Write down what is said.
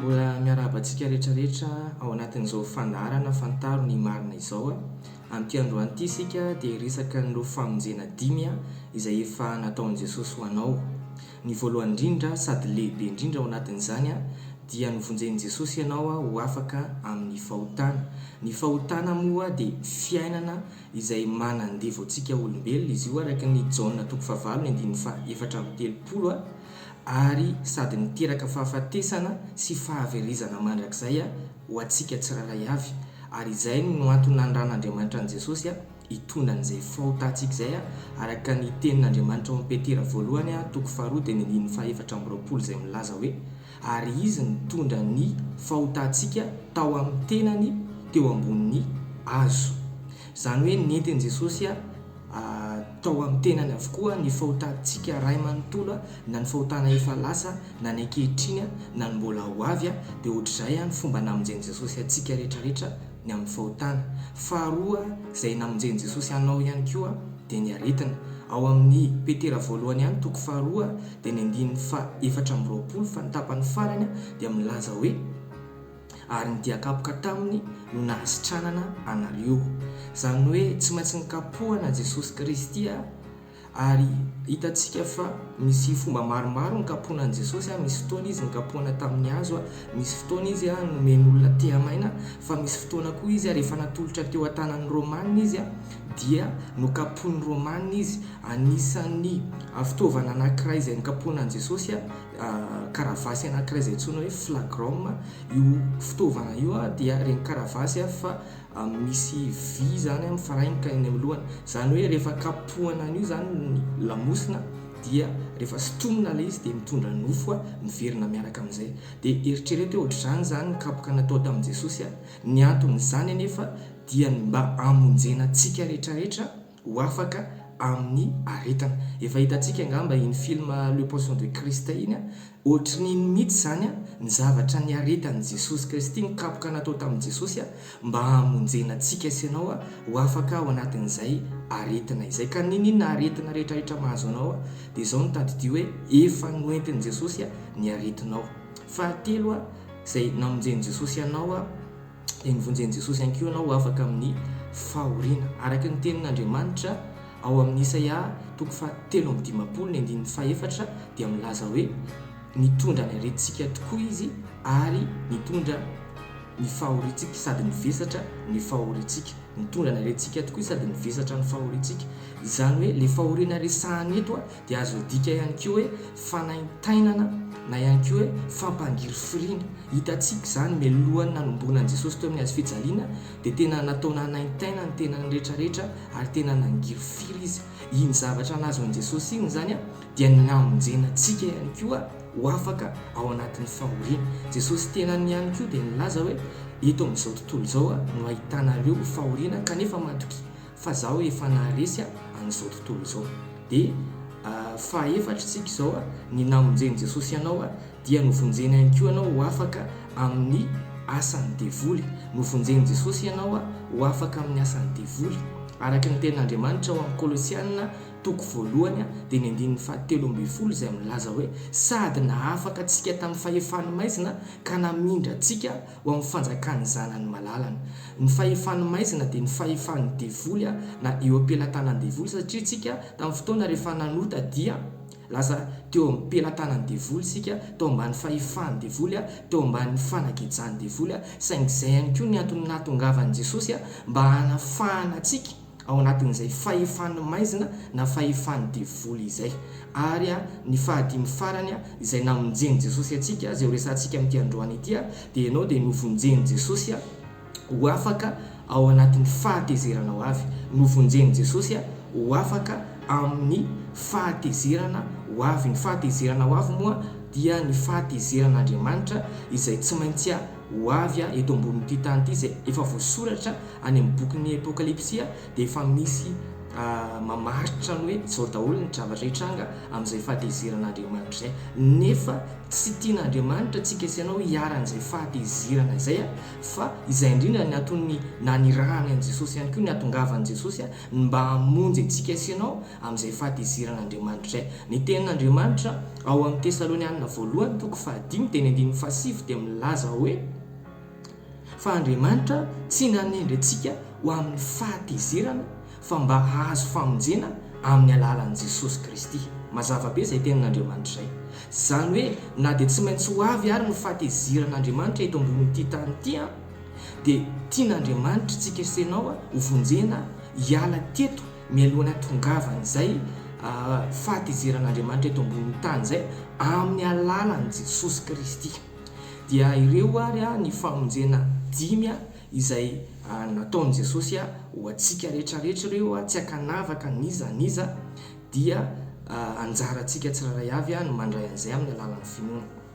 Mbola miarahaba antsika rehetra rehetra ao anatin'izao fandaharana Fantaro ny marina izao a! Amin'ity androany ity isika dia hiresaka an'ireo famonjena dimy a! izay efa nataon'i Jesosy ho anao. Ny voalohany indrindra sady lehibe indrindra ao anatin'izany a! dia novonjen'i Jesosy ianao ho afaka amin'ny fahotana. Ny fahotana moa dia fiainana izay manandevo antsika olombelona izy io araka ny Jaona toko fahavalo ny andininy fahaefatra amby telopolo a ary sady miteraka fahafatesana sy fahaverezana mandrakizay a ho antsika tsirairay avy ary izay no antony nandrahan'Andriamanitra an'i Jesosy a hitondra an'izay faota antsika izay a araka ny tenin'Andriamanitra ao amin'i Petera voalohany a toko faharoa dia ny andininy fahaefatra amby roapolo izay milaza hoe Ary izy nitondra ny fahotantsika tao amin'ny tenany teo ambonin'ny hazo. Izany hoe nentin'i Jesosy tao amin'ny tenany avokoa ny fahotantsika iray manontolo, na ny fahotana efa lasa, na ny ankehitriny, na ny mbola ho avy. Dia ohatr'izay ny fomba namonjen'i Jesosy antsika rehetra rehetra ny amin'ny fahotana. Faharoa, izay namonjen'i Jesosy anao ihany koa dia ny aretina. Ao amin'ny Petera voalohany ihany toko faharoa dia ny andininy fahaefatra amby roapolo fa ny tapany farany dia milaza hoe, Ary ny dia kapoka taminy no nahasitranana anareo. Izany hoe tsy maintsy nikapohana Jesosy Kristy. Ary hitantsika fa misy fomba maromaro nikapoana an'i Jesosy, misy fotoana izy nikapoana tamin'ny hazo, misy fotoana izy nomeny olona tehamaina, fa misy fotoana koa izy rehefa natolotra teo an-tanan'ny Romanina izy dia nokapoin'ny Romanina izy. Anisan'ny fitaovana anankiray izay nikapoana an'i Jesosy, karavasy anankiray izay antsoina hoe flagrum, io fitaovana io dia ireny karavasy fa misy vy izany mifarainika eny amin'ny lohany, izany hoe rehefa kapohana an'io izany ny lamosina dia rehefa sotromina ilay izy dia mitondra nofo miverina miaraka amin'izay. Dia eritrereto hoe ohatr'izany izany ny kapoka natao tamin'i Jesosy, ny anton'izany anefa dia ny mba hamonjena antsika rehetra rehetra, ho afaka amin'ny aretana. Efa hitantsika angamba iny film Le Poisson de Christ iny a, ohatrin'iny mihitsy izany a, ny zavatra niaretan'i Jesosy Kristy, ny kapoka natao tamin'i Jesosy a, mba hamonjena antsika sy ianao a, ho afaka ao anatin'izay aretina izay. Ka n'inon'inona aretina rehetrarehetra mahazo anao a, dia izao no tadidio hoe, efa noentin'i Jesosy a, ny aretinao. Fahatelo a, izay namonjen'i Jesosy anao a, dia novonjen'i Jesosy ihany koa ianao ho afaka amin'ny fahoriana. Araka ny tenin'Andriamanitra ao amin'ny Isaia toko fahatelo amby dimampolo ny andininy fahefatra dia milaza hoe nitondra ny aretintsika tokoa Izy ary nitondra ny fahoriantsika sady nivesatra ny fahoriantsika. Nitondra ny aretintsika tokoa Izy sady nivesatra ny fahoriantsika. Izany hoe ilay fahoriana resahana eto dia azo adika ihany koa hoe fanaintainana na ihany koa hoe fampangirifiriana. Hitantsika izany, mialohan'ny nanomboana an'i Jesosy teo amin'ny hazo fijaliana dia tena natao nanaintaina ny tenany rehetra rehetra ary tena nangirifiry izy. Iny zavatra nahazoan'i Jesosy iny izany dia ny namonjena antsika ihany koa ho afaka ao anatin'ny fahoriana. Jesosy tenany ihany koa dia nilaza hoe eto amin'izao tontolo izao no ahitana ireo fahoriana kanefa matokia. fa zaho efa naharesy a an'izao tontolo izao de fahaefatra isika izao a ny namonjen'i Jesosy anao a dia novonjeny ihany koa anao ho afaka amin'ny asan'ny devoly novonjen'i Jesosy ianao a ho afaka amin'ny asan'ny devoly araka ny tenin'Andriamanitra ao amin'ny Kolosiana toko voalohany a dia ny andininy fahatelo ambin'ny folo izay milaza hoe sady nahafaka antsika tamin'ny fahefan'ny maizina ka namindra antsika ho amin'ny fanjakan'ny zanany malalany. Ny fahefan'ny maizina dia ny fahefan'ny devoly na eo am-pelatanan'ny devoly satria isika tamin'ny fotoana rehefa nanota dia lasa teo amin'ny pelatanan'ny devoly isika, tao ambany fahefan'ny devoly, teo ambany fanagejan'ny devoly, saingy izay ihany koa ny antony nahatongavan'i Jesosy mba hanafahana antsika. ao anatin'izay fahefan'ny maizina na fahefan'ny devoly izay. Ary ny fahadimy farany, izay namonjen'i Jesosy antsika, izay horesahantsika amin'ity androany ity, dia ianao dia novonjen'i Jesosy ho afaka ao anatin'ny fahatezerana ho avy, novonjen'i Jesosy ho afaka amin'ny fahatezerana ho avy. Ny fahatezerana ho avy moa dia ny fahatezeran'Andriamanitra izay tsy maintsy ho avy eto ambonin'ity tany ity izay efa voasoratra any amin'ny bokin'ny Apokalypsy dia efa misy mamaritra ny hoe izao daholo ny zavatra hitranga amin'izay fahatezeran'Andriamanitra izay nefa tsy tian'Andriamanitra tsika sy ianao hiharan'izay fahatezerana izay fa izay indrindra ny aton'ny nanirahany an'i Jesosy ihany koa ny hatongavan'i Jesosy ny mba hamonjy antsika sy ianao amin'izay fahatezeran'Andriamanitra. Ny Tenin'Andriamanitra, ao amin'ny Tesalonianina Voalohany toko fahadimy teny andininy fahasivy dia milaza hoe, Fa Andriamanitra tsy nanendry antsika ho amin'ny fahatezerana fa mba hahazo famonjena amin'ny alalan'i Jesosy Kristy. Mazava be izay Tenin'Andriamanitra izay. Izany hoe na dia tsy maintsy ho avy ary ny fahatezeran'Andriamanitra eto ambonin'ity tany ity an, Dia tian'Andriamanitra tsy hikesenao ho vonjena hiala teto mialohan'ny hatongavan'izay fahatizeran'Andriamanitra eto ambonin'ny tany izay amin'ny alalan'i Jesosy Kristy. Dia ireo ary ny famonjena dimy izay nataon'i Jesosy ho antsika rehetra rehetra ireo, tsy ankanavaka n'iza n'iza, dia anjarantsika tsirairay avy ny mandray an'izay amin'ny alalan'ny finoana.